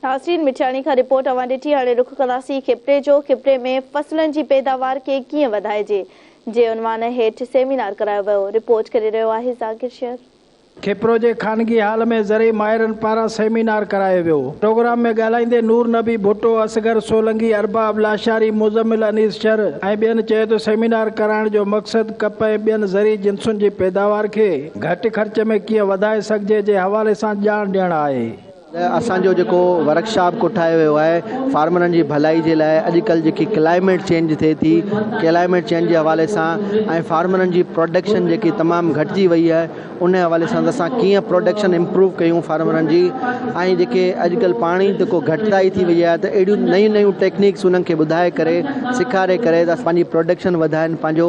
ناسرين مٺياڻي کان رپورٽ اوهان ڏٺي هاڻي رخ ڪنداسين خيبري جو خيبري ۾ فصلن جي پيداوار کي ڪيئن وڌائجي جي عنوان هيٺ سيمينار ڪرايو ويو رپورٽ ڪري رهيو آهي ذاڪر شير. خيبرو جي خانگي هال ۾ زرعي ماهرن پاران سيمينار ڪرايو ويو پروگرام ۾ ڳالهائيندي نور نبي ڀٽو اصغر سولنگي ارباب لاشاري مزمل انيس شر ۽ ٻين چيو ته سيمينار ڪرائڻ جو مقصد ڪپهه ۽ ٻين زرعي جنسن جي پيداوار کي گهٽ خرچ ۾ ڪيئن وڌائي سگهجي جي حوالي سان ڄاڻ ڏيڻ آهي. اسان جو جيڪو ورڪشاپ ڪوٺايو ويو آهي فارمرن جي ڀلائي جي لاء اڄ ڪلهه جيڪي ڪلائميٽ چينج ٿئي ٿي ڪلائميٽ چينج جي حوالي سان ۽ فارمرن جي پروڊڪشن جيڪي تمام گهٽجي وئي آهي ان حوالي سان ته اسان ڪيئن پروڊڪشن امپروو ڪيون فارمرن جي ۽ جيڪي اڄ ڪلهه پاڻي جيڪو گهٽتائي ٿي وئي آهي ته اهڙيون نيون نيون ٽيڪنيڪس انهن کي ٻڌائي ڪري سيکاري ڪري ته پنهنجي پروڊڪشن وڌائن پنهنجو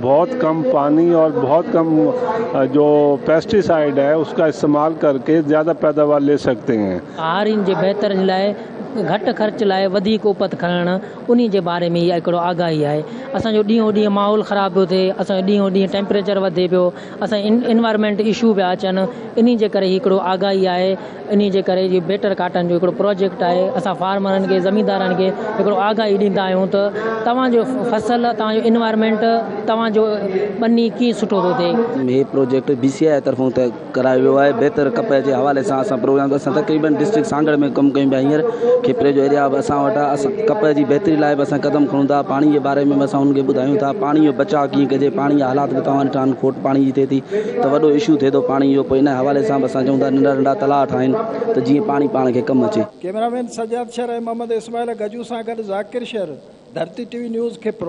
بھت ڪم پاني اور بھت ڪم جو پيسٽي سائيڊ ھي اس ڪا استعمال ڪر ڪي زياده پيداوار لي سگھتي ھين. ھارين جي بھتري لاء گھٽ خرچ لاء وڌيڪ اپت کڻڻ انھي جي باري ۾ اھا ھڪڙو آگاھي آھي اسان جو ڏينھون ڏينھن ماحول خراب پيو ٿئي اسان جو ڏينھون ڏينھن ٽيمپريچر وڌي پيو. اسان جي انوائرمينٽ اشو پيا اچن انهي جي ڪري هڪڙو آگاهي آهي انهي جي ڪري جي بيٽر ڪاٽن جو هڪڙو پروجيڪٽ آهي اسان فارمرن کي زميندارن کي هڪڙو آگاهي ڏيندا آهيون ته توهان جو فصل توهان جو انوائرمينٽ توهان جو ٻني ڪيئن سٺو ٿو ٿئي. هي پروجيڪٽ بي سي آء طرفون طئي ڪرايو ويو آهي بيٽر ڪپهه جي حوالي سان اسان پروگرام اسان تقريبن ڊسٽرڪٽ سانگهڙ ۾ ڪم ڪيون پيا هينئر کپري جو ايريا به اسان وٽ آهي اسان ڪپهه جي بهتري لاء به اسان قدم کڻون ٿا پاڻي جي باري ۾ به اسان انهن کي ٻڌايون ٿا پاڻي جو بچاء ڪيئن ڪجي پاڻي جا حالات به توهان ڏٺا آهن کوٽ پاڻي جي ٿئي ٿي ته وڏو اشو ٿئي ٿو پاڻي جو پوء ان حوالي سان به اسان چئون ٿا ننڍا ننڍا تلاء ٺاهين ته جيئن پاڻي پاڻ کي ڪم اچي. ڪيمرامين سجاد شر ۽ محمد اسماعيل گجو سان گڏ Zakir Shar, Dharti T V news, Khipro.